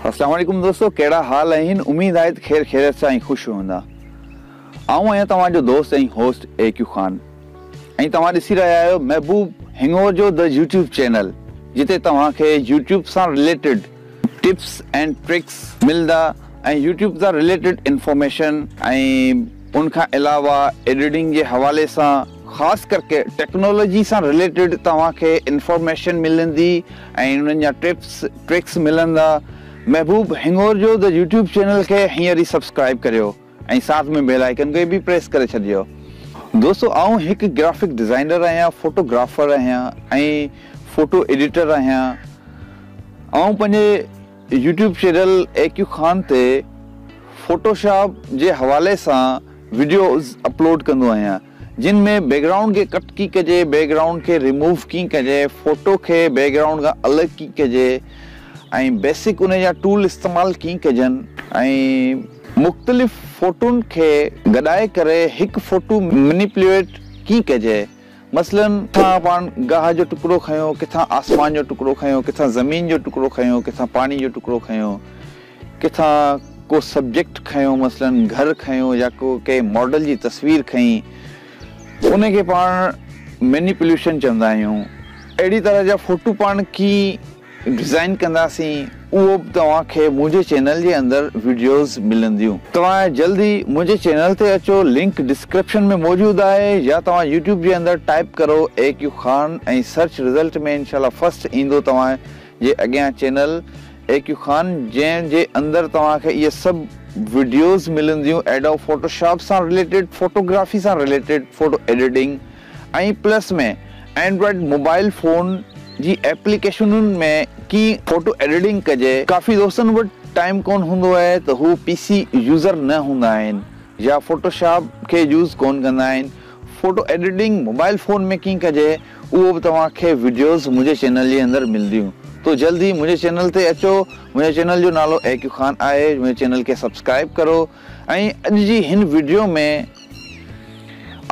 السلام عليڪم دوستو ڪهڙا حال آهن اميد آهي ته خير خيريت سان ۽ خوش هوندا آئون آهيان توهان جو دوست ۽ هوسٽ اي ڪيو خان ۽ توهان ڏسي رهيا آهيو محبوب هنڱور جو The YouTube Channel جتي توهان کي يوٽيوب سان رليٽيڊ ٽپس اينڊ ٽرڪس ملندا ۽ يوٽيوب سان رليٽيڊ انفارميشن ۽ ان کان علاوه ايڊيٽنگ جي حوالي سان خاص ڪرڪي ٽيڪنالاجي سان رليٽيڊ توهان کي انفارميشن ملندي ۽ انهن جا ٽپس ٽرڪس ملندا محبوب هڱور جو The يوٽيوب چينل کي هينئر ئي سبسڪرائيب ڪريو ۽ ساٿ ۾ بيل آئيڪن کي به پريس ڪري ڇڏجو دوستو آئون هڪ گرافڪ ڊزائنر آهيان فوٽو گرافر آهيان ۽ فوٽو ايڊيٽر آهيان آئون پنهنجي يوٽيوب چينل اي ڪيو خان تي فوٽو شاپ جي حوالي سان وڊيوز اپلوڊ ڪندو آهيان. جن ۾ بيڪ گرائونڊ کي ڪٽ ڪيئن ڪجي، بيڪ گرائونڊ کي ريموو ڪيئن ڪجي، فوٽو کي بيڪ گرائونڊ کان الڳ ڪيئن ڪجي ۽ بيسڪ انهي جا ٽول استعمال ڪيئن ڪجن ۽ مختلف فوٽون کي گڏائي ڪري هڪ فوٽو مينيپليوئيٽ ڪيئن ڪجي مثلاً ڪٿان پاڻ گاهه جو ٽڪرو کنيو، ڪٿان آسمان جو ٽڪرو کنيو، ڪٿان زمين جو ٽڪرو کنيو، ڪٿان پاڻي جو ٽڪرو کنيو. ڪٿان ڪو سبجيڪٽ کنيو مثلاً گهر کنيو يا ڪو ڪنهن ماڊل جي تصوير کنئي ته ان کي پاڻ مينيپوليشن چوندا آهيون اهڙي طرح جا فوٽو پاڻ ڪيئن ڊزائين ڪنداسين اهو به توهان کي منهنجي چينل جي اندر ويڊيوز ملنديون. توهان جلد ئي منهنجي چينل تي اچو لنڪ ڊسڪرپشن ۾ موجود آهي يا توهان يوٽيوب جي اندر ٽائيپ ڪرو اي ڪيو خان ۽ سرچ رزلٽ ۾ انشاء الله فرسٽ ايندو توهان جي اڳيان چينل اي ڪيو خان جنهن جي اندر توهان کي اهي سڀ وڊيوز ملنديون ايڊوب فوٽو شاپ سان رليٽيڊ فوٽو گرافي سان related photo editing ۽ plus ۾ Android mobile phone جي ايپليڪيشنون ۾ ڪيئن فوٽو ايڊيٽنگ ڪجي ڪافي دوستن وٽ ٽائيم ڪون هوندو آهي ته هو پي سي يوزر نه هوندا آهن يا فوٽو شاپ کي يوز ڪون ڪندا آهن فوٽو ايڊيٽنگ موبائل فون ۾ ڪيئن ڪجي. اهو به توهان کي وڊيوز منهنجي چينل جي اندر ملديون تو جلد ئي منهنجي چينل تي اچو منهنجي چينل جو نالو اي ڪيو خان آهي منهنجي چينل کي سبسڪرائب ڪرو ۽ اڄ جي هن وڊيو ۾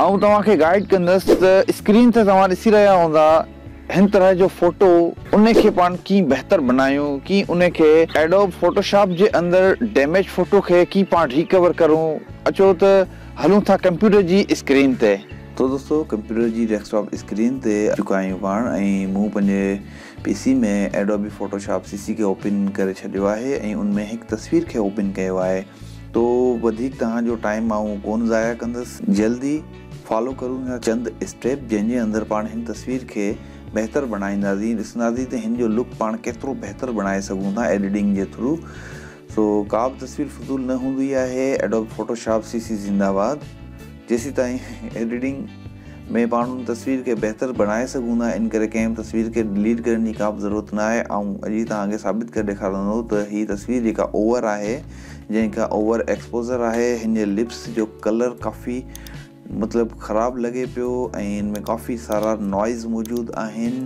آئون توهان کي گائيڊ ڪندس ته اسڪرين تي توهان ڏسي رهيا هوندا هن طرح جو فوٽو ان کي پاڻ ڪيئن بهتر بنايون ڪيئن ان کي ايڊوب فوٽو شاپ جي اندر ڊيميج فوٽو کي ڪيئن پاڻ ريڪور ڪرون اچو ته هلون ٿا ڪمپيوٽر جي اسڪرين تي. تو دوستو ڪمپيوٽر جي ڊيسڪ ٽاپ اسڪرين تي اچي چڪا آهيون پاڻ ۽ مون پنهنجي P C ۾ Adobe Photoshop CC کي اوپن ڪري ڇڏيو آهي ۽ ان ۾ هڪ تصوير کي اوپن ڪيو آهي تو وڌيڪ توهان جو ٽائيم آئون ڪون ضايع ڪندس جلدي فالو ڪرون ٿا چند اسٽيپ جنهن جي اندر پاڻ هن تصوير کي بهتر بڻائينداسين ڏسنداسين ته هن جو لڪ پاڻ ڪيترو بهتر بڻائي سگهون ٿا ايڊيٽنگ جي ٿرو. سو ڪا به تصوير فضول نه هوندي آهي Adobe Photoshop C C زنده باد جيسين تائين ايڊيٽنگ ۾ پاڻ ان تصوير کي بهتر بڻائي سگهون ٿا ان ڪري ڪنهن به تصوير کي ڊليٽ ڪرڻ جي ڪا به ضرورت نه آهي آئون اڄ ئي توهان کي ثابت ڪري ڏيکارندو ته هي تصوير جيڪا اوور آهي جنهن کان اوور ايڪسپوزر آهي هن جي لپس جو ڪلر ڪافي مطلب خراب لڳي پيو ۽ ان ۾ ڪافي سارا نوائز موجود آهن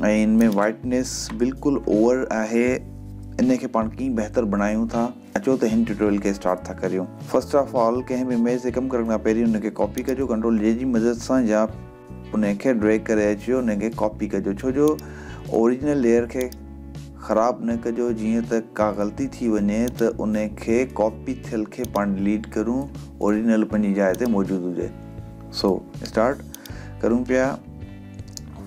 ۽ ان ۾ وائٽنس بلڪل اوور آهي ان کي پاڻ ڪيئن بهتر بڻايون ٿا اچو ته هن ٽيوٽوريل کي اسٽارٽ ٿا ڪريون فرسٽ آف آل ڪنهن به اميج تي ڪم ڪرڻ کان پهرين ان کي ڪاپي ڪجو ڪنٽرول جي جي مدد سان يا انهي کي ڊريگ ڪري اچيو انهي کي ڪاپي ڪجو ڇو جو اوريجنل ليئر کي خراب نه ڪجو جيئن ته ڪا غلطي ٿي وڃي ته انهي کي ڪاپي ٿيل کي پاڻ ڊليٽ ڪرون اوريجنل پنهنجي جاء تي موجود هجي سو اسٽارٽ ڪرون پيا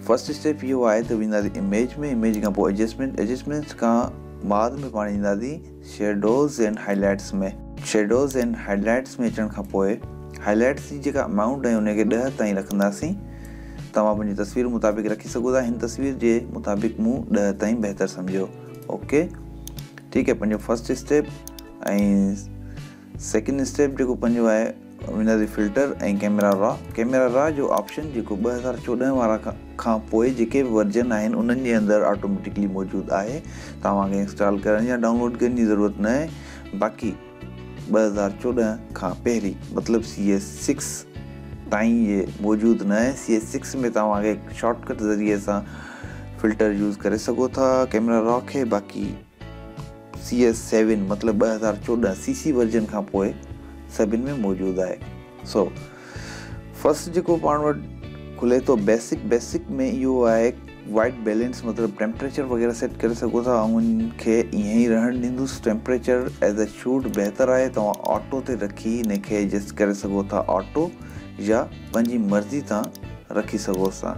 فرسٽ اسٽيپ اهو آهي ته وينداسي اميج ۾ اميج کان پوء ايڊجسٽمينٽ ايڊجسٽمينٽس کان بعد ۾ پاڻ اينداسي shadows and highlights ۾ shadows and highlights ۾ اچڻ کان پوء هائي لائيٽس جي جيڪا امائونٽ ۽ انهي کي ڏهه تائين رکنداسين توهان پنهنجي تصوير مطابق رکي سگهو ٿا هن تصوير جي مطابق مون ڏهه تائين بهتر سمجهيو اوڪي ٺيڪ هي پنهنجو فرسٽ اسٽيپ ۽ سيڪنڊ اسٽيپ جيڪو پنجون آهي ونڊر جي filter ۽ camera raw camera raw جو آپشن جيڪو ٻه هزار چوڏهن وارا کان پوء جيڪي به ورجن آهن انهن جي اندر آٽوميٽڪلي موجود آهي توهان کي انسٽال ڪرڻ يا ڊائونلوڊ ڪرڻ جي ضرورت نه آهي باقي ٻه هزار چوڏهن کان پهرين مطلب سي ايس سڪس تائين جي موجود نه آهي سي ايس سڪس ۾ توهان کي شارٽ ڪٽ ذريعي سان فلٽر يوز ڪري سگهو ٿا ڪيميرا را کي باقي سي ايس سيون مطلب ٻه هزار چوڏهن سي سي ورجن کان پوء سڀن ۾ موجود آهي سو فرسٽ جيڪو پاڻ وٽ کلي ٿو بيسڪ بيسڪ ۾ اهو آهي وائٽ بيلنس مطلب ٽيمپريچر وغيره سيٽ ڪري سگهو ٿا آئون ان کي ائين ئي رهڻ ڏيندس ٽيمپريچر ايز اي شوڊ بهتر آهي توهان آٽو تي رکي ان کي ايڊجسٽ ڪري سگهو ٿا آٽو يا پنهنجي مرضي تان رکي سگهو ٿا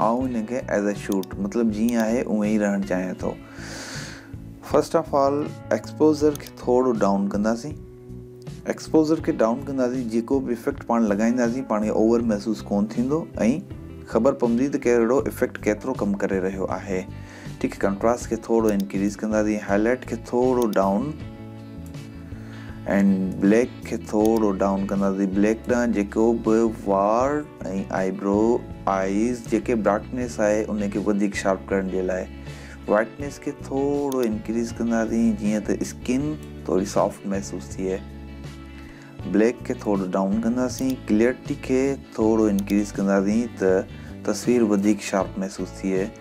آئون هن کي ايز اي شوٽ مطلب جيئن آهي اوئن ئي رهڻ چاهيان ٿو فرسٽ آف آل ايڪسپوزر کي ٿورو ڊائون ڪنداسين ايڪسپوزر کي ڊائون ڪنداسين جيڪو به افيڪٽ پاڻ لڳائينداسين پاڻ کي اوور محسوس ڪون ٿيندو ۽ خبر پوندي ته ڪهڙو افيڪٽ ڪيترو ڪم ڪري رهيو آهي ٺيڪ هي ڪنٽراسٽ کي ٿورو انڪريز ڪنداسين هاء لائٽ کي ٿورو ڊائون اينڊ بليڪ کي ٿورو ڊائون ڪنداسين بليڪ ڏانهن جيڪو به وار ۽ آئي برو آئيز جيڪي ڊارڪنيس آهي ان کي وڌيڪ شارپ ڪرڻ جي لاء وائٽنيس کي ٿورو انڪريز ڪنداسين جيئن ته اسڪن ٿوري سافٽ محسوس ٿئي بليڪ کي ٿورو ڊائون ڪنداسين ڪليئرٽي کي ٿورو انڪريز ڪنداسين ته تصوير وڌيڪ شارپ محسوس ٿئي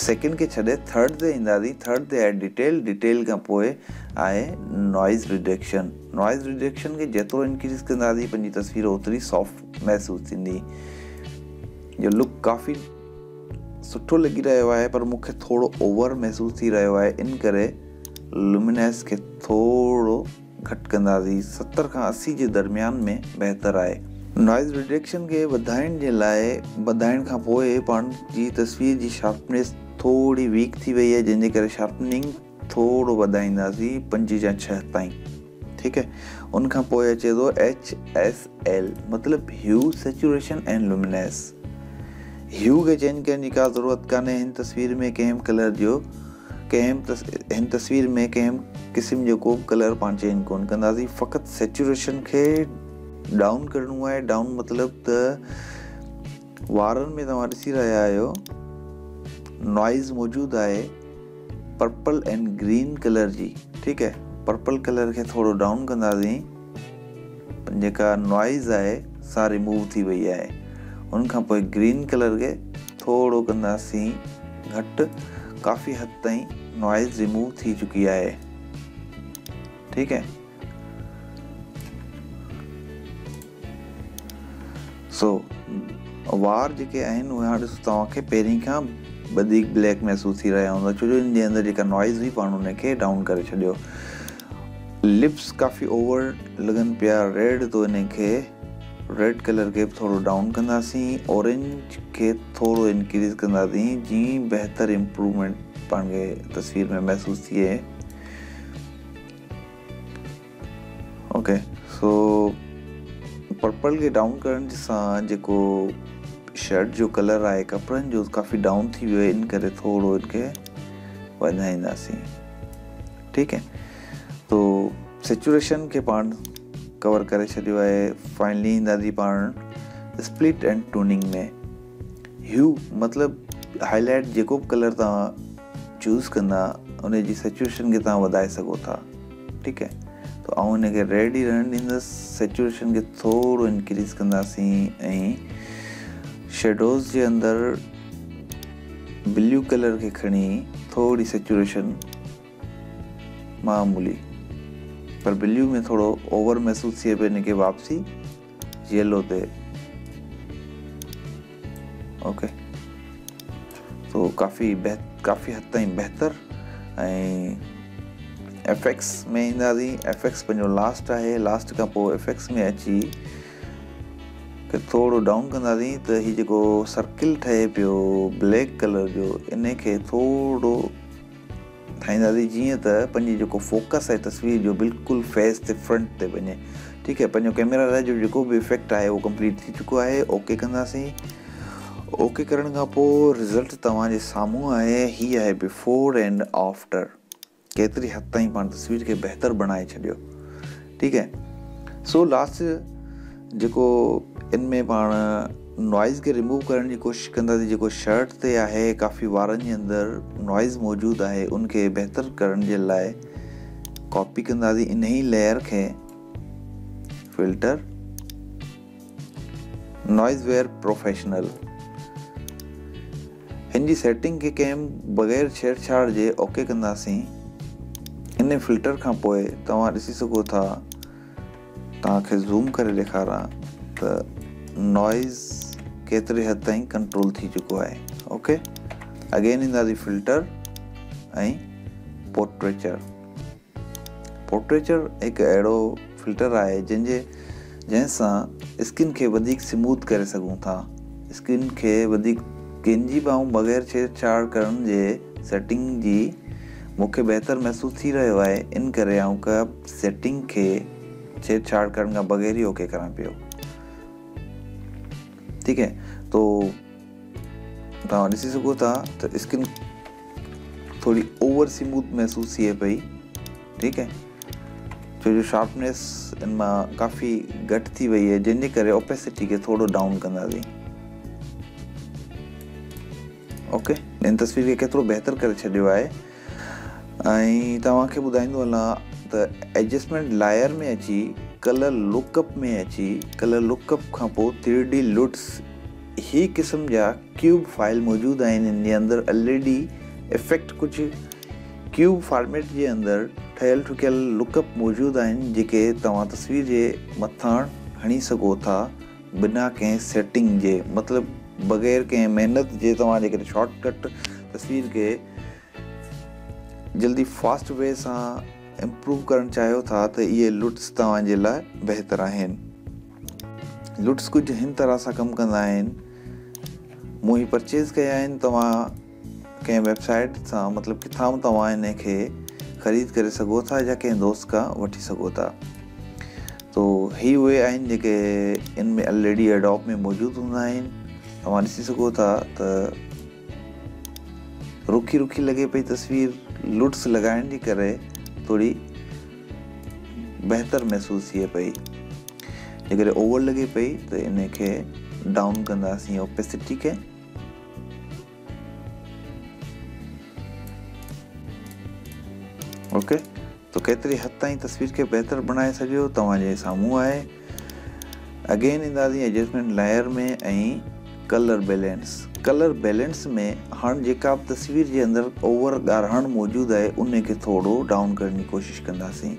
سيڪنڊ کي ڇڏي ٿرڊ تي اينداسين، ٿرڊ تي آهي ڊيٽيل، ڊيٽيل کان پوء آهي نوائيز رڊڪشن، نوائيز رڊڪشن کي جيترو انڪريز ڪنداسين پنهنجي تصوير اوتري سافٽ محسوس ٿيندي. جو لڪ ڪافي سٺو لڳي رهيو آهي پر مون کي ٿورو اوور محسوس ٿي رهيو آهي ان ڪري لومينس کي ٿورو گهٽ ڪنداسين، ستر کان اسي جي درميان ۾ بهتر آهي. نوائيز رڊڪشن کي وڌائڻ جي لاء وڌائڻ کان پوء پاڻ جي تصوير جي شارپنيس ٿوري ويڪ ٿي وئي آهي جنهن جي ڪري شارپننگ ٿورو وڌائينداسين پنج يا ڇهه تائين ٺيڪ آهي ان کان پوء اچي ٿو HSL مطلب هيو سيچوريشن ۽ لومينيس هيو کي چينج ڪرڻ جي ڪا ضرورت ڪانهي هن تصوير ۾ ڪنهن به ڪلر جو ڪنهن به هن تصوير ۾ ڪنهن به قسم جو ڪو به ڪلر پاڻ چينج ڪونه ڪنداسين فقط سيچوريشن کي ڊائون ڪرڻو آهي ڊائون مطلب ته وارن ۾ توهان ڏسي رهيا آهيو نوائز موجود آهي پرپل اینڈ گرين ڪلر جي ٺيڪ آهي پرپل ڪلر کي ٿورو ڊائون ڪنداسين جيڪا نوائيز آهي سا ريموو ٿي وئي آهي ان کان پوء گرين ڪلر کي ٿورو ڪنداسين گهٽ ڪافي حد تائين نوائيز ريموو ٿي چڪي آهي ٺيڪ هي سو وار جيڪي آهن اهي هاڻ ڏسو توهان کي پهرين کان وڌيڪ بليڪ محسوس ٿي رهيا هوندا ڇو جو ان جي اندر جيڪا نوائيز هئي پاڻ ان کي ڊائون ڪري ڇڏيو لپس ڪافي اوور لڳن پيا ريڊ تو انهي کي ريڊ ڪلر کي به ٿورو ڊائون ڪنداسين اورينج کي ٿورو انڪريز ڪنداسين جيئن بهتر امپرومينٽ پاڻ کي تصوير ۾ محسوس ٿئي اوڪي سو پرپل کي ڊائون ڪرڻ سان جيڪو شرٽ جو ڪلر آهي ڪپڙن جو ڪافي ڊائون ٿي ويو ان ڪري ٿورو ان کي وڌائينداسين ٺيڪ اهي تو سچوئيشن کي پاڻ ڪور ڪري ڇڏيو آهي فائنلي ايندا جي پاڻ اسپلٽ اينڊ ٽوننگ ۾ هيو مطلب هاء لائٽ جيڪو به ڪلر توهان چوز ڪندا ان جي سچوئيشن کي توهان وڌائي سگهو ٿا ٺيڪ اهي تو آئون هن کي ريڊ ئي رهڻ ڏيندس سچوئيشن کي ٿورو انڪريز ڪنداسين ۽ شيڊوز جي اندر بليو ڪلر کي کڻي ٿوري سيچوريشن معمولي پر بليو ۾ ٿورو اوور محسوس ٿئي پئي ان کي واپسي يلو تي اوڪي سو ڪافي بهت ڪافي حد تائين بهتر ۽ افيڪس ۾ اينداسي افيڪس پنهنجو لاسٽ آهي لاسٽ کان پوء افيڪس ۾ اچي کي ٿورو ڊائون ڪنداسين ته هي جيڪو سرڪل ٺهي پيو بليڪ ڪلر جو ان کي ٿورو ٺاهينداسين جيئن ته پنهنجي جيڪو فوڪس آهي تصوير جو بلڪل فيس تي فرنٽ تي وڃي ٺيڪ آهي پنهنجو ڪيميرا لاء جو جيڪو به افيڪٽ آهي اهو ڪمپليٽ ٿي چڪو آهي اوڪي ڪنداسين اوڪي ڪرڻ کان پوء رزلٽ توهان جي سامهون آهي هي آهي بفور اینڊ آفٽر ڪيتري حد تائين پاڻ تصوير کي بهتر بڻائي ڇڏيو ٺيڪ اهي سو لاسٽ جيڪو ان ۾ پاڻ نوائز کي ريموو ڪرڻ جي ڪوشش ڪنداسي جيڪو شرٽ تي آهي ڪافي وارن جي اندر نوائز موجود آهي ان کي بهتر ڪرڻ جي لاء ڪاپي ڪنداسي ان هي ليئر کي فلٽر نوائز ويئر پروفيشنل هن جي سيٽنگ کي ڪنهن بغير ڇيڙ ڇاڙ جي اوڪي ڪنداسين انهي فلٽر کان پوء توهان ڏسي سگهو ٿا توهان کي زوم ڪري ڏيکاران ته نوائيز ڪيتري حد تائين ڪنٽرول ٿي چڪو آهي اوڪي اگين اينداسي فلٽر ۽ پورٽريچر پورٽريچر هڪ اهڙو فلٽر آهي جنهن جي جنهن سان اسڪن کي وڌيڪ سموٿ ڪري سگهون ٿا. اسڪن کي وڌيڪ گينجي ٻانهون بغير ڇيڙ ڇاڙ ڪرڻ جي سيٽنگ جي مون کي بهتر محسوس ٿي رهيو آهي ان ڪري آئون ڪهپ سيٽنگ کي ڇيڙ ڇاڙ ڪرڻ کان بغير ئي اوڪي ڪران پيو ٺيڪ هي تو توهان ڏسي سگهو ٿا ته اسڪن ٿوري اوور سموٿ محسوس ٿئي پئي ٺيڪ آهي ڇو جو شارپنيس ان مان ڪافي گهٽ ٿي وئي آهي جنهن جي ڪري اوپيسٽي کي ٿورو ڊائون ڪنداسين اوڪي ان تصوير کي ڪيترو بهتر ڪري ڇڏيو آهي ۽ توهانکي ٻڌائيندو هلان ته ايڊجسٽمنٽ لائر ۾ اچي ڪلر لوڪ اپ ۾ اچي ڪلر لوڪ اپ کان پوء تھري ڊي لوٽس هي قسم جا ڪيوب فائل موجود آهن هن جي اندر ايل اي ڊي افيڪٽ ڪجهه ڪيوب فارميٽ جي اندر ٺهيل ٺڪيل لڪ اپ موجود آهن جيڪي توهان تصوير جي مٿان هڻي سگهو ٿا بنا ڪنهن سيٽنگ جي مطلب بغير ڪنهن محنت جي توهان جيڪڏهن شارٽ ڪٽ تصوير کي جلدي فاسٽ وي سان امپروو ڪرڻ چاهيو ٿا ته اهي لٽس توهان جي لاء بهتر آهن. لٽس ڪجهه هن طرح سان ڪم ڪندا آهن مون هي پرچيز ڪيا آهن توهان ڪنهن ويب سائيٽ سان مطلب ڪٿان به توهان ان کي خريد ڪري سگهو ٿا يا ڪنهن دوست کان وٺي سگهو ٿا تو هي اهي آهن جيڪي ان ۾ الريڊي اڊاپ ۾ موجود هوندا آهن توهان ڏسي سگهو ٿا ته رکي رکي لڳي پئي تصوير لوٽس لڳائڻ جي ڪري ٿوري بهتر محسوس ٿئي پئي جيڪڏهن اوور لڳي پئي ته ان کي ڊائون ڪنداسين اوپيسٽي کي اوڪي تو ڪيتري حد تائين تصوير کي بهتر بڻائي سگهيو توهان جي سامهون آهي اگين اندازي adjustment layer ۾ ۽ colour balance colour balance ۾ هاڻ جيڪا به تصوير جي اندر اوور ڳاڙهاڻ موجود آهي انهي کي ٿورڙو ڊائون ڪرڻ جي ڪوشش ڪنداسين.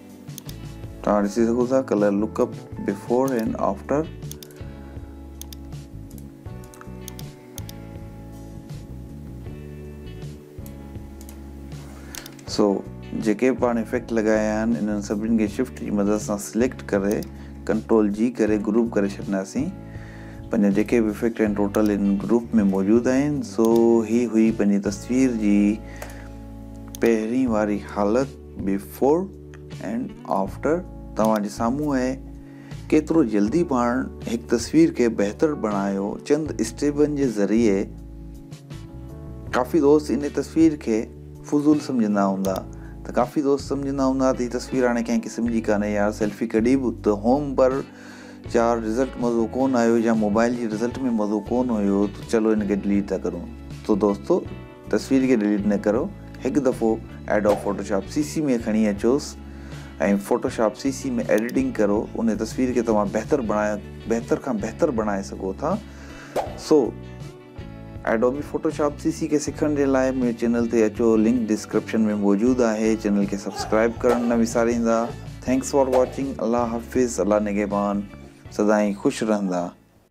توهان ڏسي سگهو ٿا colour lookup before and after so جيڪي به پاڻ افيڪٽ لڳايا آهن انهن سڀني کي شفٽ جي مدد سان سليڪٽ ڪري ڪنٽرول جي ڪري گروپ ڪري ڇڏنداسين پنهنجا جيڪي به افيڪٽ آهن ٽوٽل ان گروپ ۾ موجود آهن سو هي هئي پنهنجي تصوير جي پهرين واري حالت بيفور اينڊ آفٽر توهان جي سامهون آهي. ڪيترو جلدي پاڻ هڪ تصوير کي بهتر بڻايو چند اسٽيپن جي ذريعي. ڪافي دوست انهي تصوير کي فضول سمجهندا هوندا ته ڪافي دوست سمجهندا هوندا ته هي تصوير هاڻي ڪنهن قسم جي ڪانهي يار سيلفي ڪڍي به ته هوم پر جا رزلٽ مزو ڪونه آيو يا موبائل جي رزلٽ ۾ مزو ڪونه هيو ته چلو هن کي ڊليٽ ٿا ڪرون ته دوستو تصوير کي ڊليٽ نه ڪرو هڪ دفعو ايڊوب فوٽوشاپ سي سي ۾ کڻي اچوس ۽ فوٽوشاپ سي سي ۾ ايڊيٽنگ ڪرو ان تصوير کي توهان بهتر بڻاء بهتر کان بهتر بڻائي سگهو ٿا سو ايڊوبي فوٽوشاپ سي سي کي سکڻ جي لاء منهنجي چينل تي اچو لنڪ ڊسڪرپشن ۾ موجود آهي چينل کي سبسڪرائب ڪرڻ نه وساريندا ٿينڪس فار واچنگ الله حافظ الله نگهبان سدائين خوش رهندا.